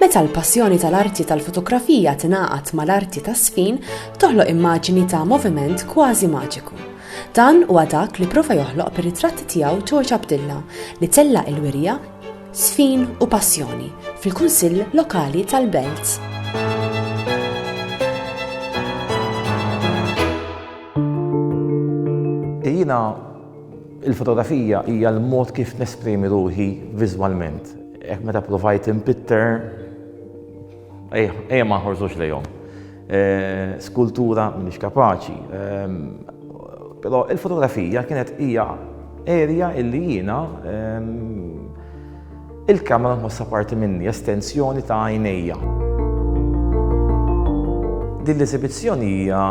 Meta l-passjoni tal-arti tal-fotografija tingħaqad mal-arti tas-sfin, toħloq immaġini ta' moviment kważi maġiku. Dan huwa dak li prova joħloq bir-ritratti tiegħu George Abdilla li tella' il-wirja sfin u passjoni fil-Kunsill Lokali tal-Belt. Jiena il-fotografija hija l-mod kif nesprimi ruħi viżwalment. Hekk meta provajt impitter, ejja ma nħorzux lejhom. Eh, skultura m'iniex kapaċi. Ehm, però il-fotografija kienet hija erja illi jiena ehm, Il-kamera nħossha parti minni, estensjoni ta' għajnejja. Din l-esibizzjoni hija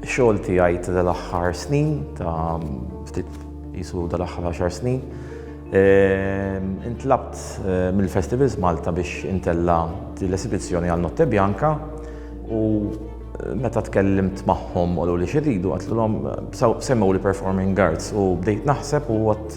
xogħol tiegħi ta' dal-aħħar snin, ta' ftit jisu dal-aħħar 10 snin. Ehm, intlabt eh, mill-Festivals Malta biex intella l-esibizzjoni għal Notte Bianca u eh, meta tkellimt magħhom u li xiridu għatlulhom eh, semmew li performing arts u bdejt naħseb u għat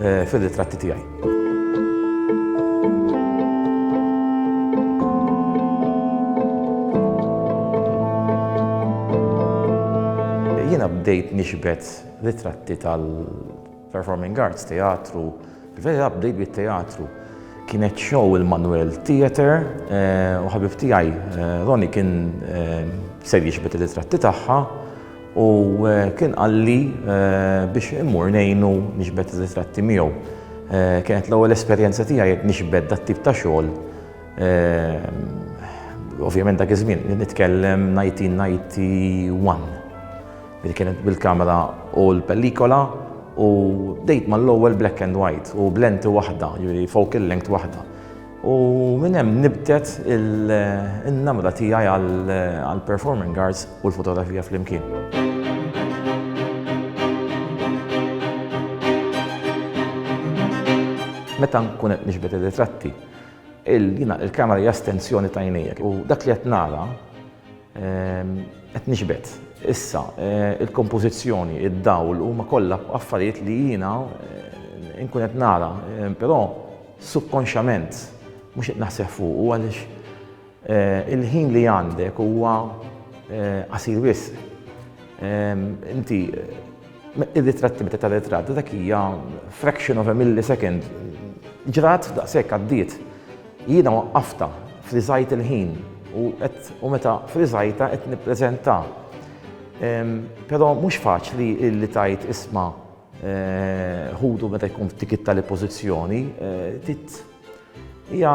fir-ritratti tiegħi. bdejt nixbet ritratti tal-performing arts, teatru, vera bdejt bit-teatru. Kienet show il-Manuel Theater eh, u ħabib tiegħi eh, Roni kien eh, ser jixbet ritratti tagħha U kien qalli biex immur ngħinu nixbet ir-ritratti miegħu. Kienet l-ewwel esperjenza tiegħi nixbet dat tip ta' xogħol. Ovvjament dak iż-żmien nitkellem 1991. Li kienet bil-kamera u l-pellikola u bdejt mal-ewwel black and white u b'lenti waħda, jiġifieri focal length waħda. U minn hemm nibtet in-namra tiegħi għall-performing arts u l-fotografija flimkien. meta nkun qed nixbet ir-ritratti, jiena il-kamera hija estensjoni ta' għinejjek u dak li qed nara ehm, qed nixbet. Issa, eh, il-kompożizzjoni, id-dawl huma kollha affarijiet li jiena eh, nkun qed nara, eh, però Subkonxjament mhux qed naħseb fuqu għaliex il-ħin li għandek huwa qasir wisq. Inti ir-ritratti meta tara ritratt dak hija fraction of a millisecond. Ġrat daqshekk għaddiet. Jiena waqqaftha, friżajt il-ħin u qed u meta friżajtha qed nippreżentha. Però mhux faċli li tgħid isma' Ħutu meta jkun f'dik it-tali pożizzjoni, tit hija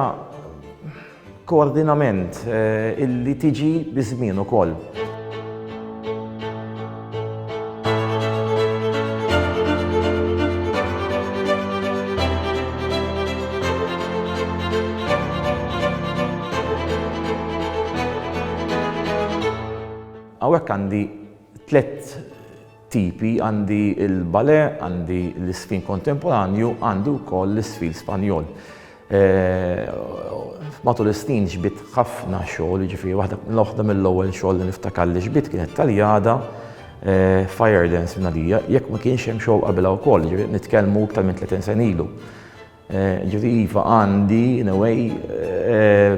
koordinament illi tiġi biż-żmien ukoll. Hawnhekk għandi tliet tipi, għandi l-balè, għandi l-iżfin kontemporanju, għandi wkoll l-iżfin Spanjol. Matul is-snin ġbidt ħafna xogħol, jiġifieri waħda mill-ewwel xogħol li niftakar li ġbidt kienet taljada Eh, fire dance nadija, jekk ma kienx hemm xogħol qabilha wkoll, ġifieri nitkellmu iktar minn 30 sen ilu. Eh, ġifieri iva għandi in a way eh,